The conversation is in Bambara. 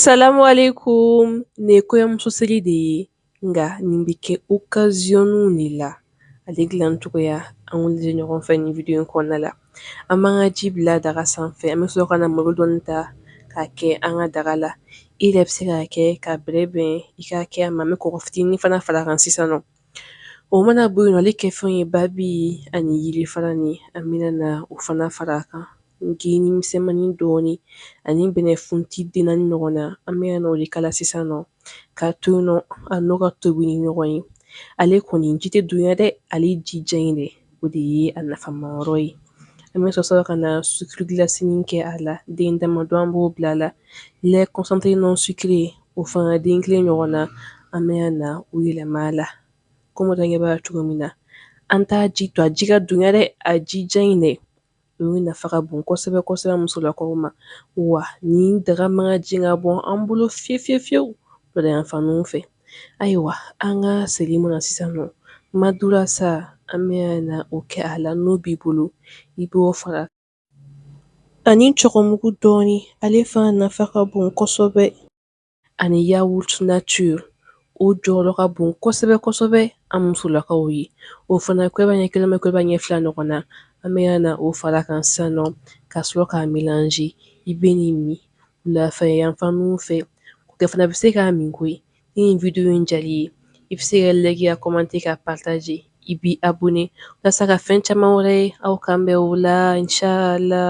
Salamu alaikum nin ye kɔɲɔmuso seri de ye nka nin bɛ kɛ okaziyɔnniw de la ale dilan cogoya an k'olu lajɛ ɲɔgɔn fɛ nin video in kɔnɔna la an b'an ka ji bila daga sanfɛ an bɛ sɔrɔ ka na malo dɔɔni ta k'a kɛ an ka daga la i yɛrɛ bɛ se k'a kɛ ka bɛrɛ bɛn i k'a kɛ a ma an bɛ kɔgɔ fitinin fana far'a kan sisan nɔ O mana bɔ yen nɔ ale kɛ fɛn ye babi ani yiri fara ni an bɛna na o fana fara a kan geni misɛnmanin dɔɔnin ani bɛnɛfunti den naani ɲɔgɔn na an bɛ na o de k'a la sisan nɔ k'a to yen nɔ a n'o ka tobi ni ɲɔgɔn ye ale kɔni ji tɛ dunya dɛ ale ji jɛ in de o de ye a nafama yɔrɔ ye an bɛ sɔrɔ ka na sukiri gilasinin kɛ a la den dama dɔ an b'o bila a la lɛ kɔnsantere nɔn sukire o fana den kelen ɲɔgɔn na an bɛ na o yɛlɛma a la komi aw ɲɛ b'a cogo min na an t'a ji to a ji ka dunya dɛ a jija in dɛ ninnu nafa ka bon kosɛbɛ kosɛbɛ musolakaw ma wa nin daga man ka jigin ka bɔ an bolo fiyewu fiyewu fiyewu lɔdayanfan ninnu fɛ ayiwa an ka seri mɔna sisan nɔ madurasa an bɛ na o kɛ a la n'o b'i bolo i b'o fara ani cɔgɔmugu dɔɔni ale fana nafa ka bon kosɛbɛ ani yawuruti natiri o jɔyɔrɔ ka bon kosɛbɛ kosɛbɛ an musolakaw ye o fana kuduba ɲɛ kelen wa kuduba ɲɛ fila ɲɔgɔn na an bɛ na o fara kan sisan nɔ ka sɔrɔ k'a melanze i bɛ nin min wulafɛ yanfan ninnu fɛ o cɛ fana bɛ se k'a min koyi ni video in diyar'i ye i bɛ se ka layiki kɔmante ka pataze i b'i abɔne walasa ka fɛn caman wɛrɛ ye aw kan bɛn o la inshallah